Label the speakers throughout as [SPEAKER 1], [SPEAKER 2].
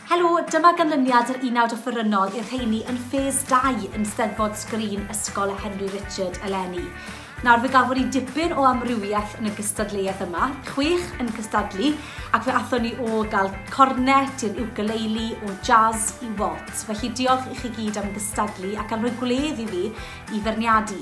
[SPEAKER 1] Helo, dyma ganlyniad yr unawd offerynnol i'r rheini yn ffes 2 yn Steddfod Sgrin Ysgol y Henry Richard eleni. Nawr fe gafon ni dipyn o amrywiaeth yn y gystadleuaeth yma, chwech yn cystadlu, ac fe athon ni o gael cornet i'r ukulele, o jazz i waltz. Felly diolch i chi gyd am gystadlu ac am rhoi gwledd i fi i ferniadu.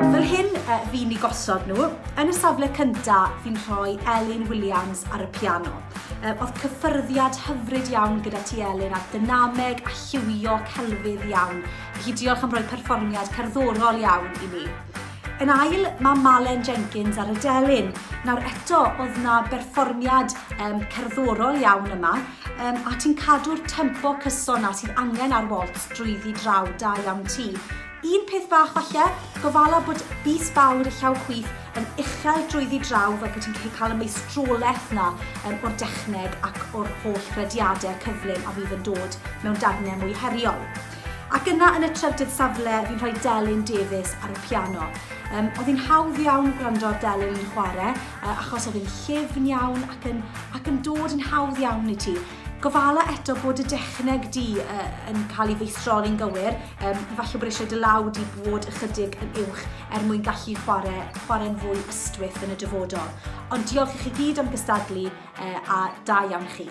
[SPEAKER 1] Fel hyn y fi'n ni gosod nhw. Yn y safle cynta, fi'n rhoi Elin Williams ar y piano. Oedd cyffyrddiad hyfryd iawn gyda ti Elin a dynameg a lliwio celfydd iawn. Felly diolch am roi perfformiad cerddorol iawn i ni. Yn ail, mae Malen Jenkins ar y delyn. Nawr eto, oedd na berfformiad um, cerddorol iawn yma. um, a ti'n cadw'r tempo cyson na sydd angen ar waltz drwyddi draw da iawn ti. Un peth bach falle, gofala bod bus fawr y llaw chwith yn uchel drwyddi draw fel bod ti'n cael y meistrolaeth na um, o'r dechneg ac o'r holl rediadau cyflym a fydd yn dod mewn darnau mwy heriol. Ac yna yn y trydydd safle, fi'n rhoi Delyn Davies ar y piano. Um, oedd hi'n hawdd iawn gwrando ar Delyn yn chwarae, Yy, achos oedd yn llyfn iawn ac yn, ac yn dod yn hawdd iawn i ti. Gofala eto bod y dechneg di uh, yn cael ei feistroli'n gywir. Um, falle bod eisiau dy law di bod ychydig yn uwch er mwyn gallu chwarae, chwarae'n fwy ystwyth yn y dyfodol. Ond diolch i chi gyd am gystadlu uh, a da iawn chi.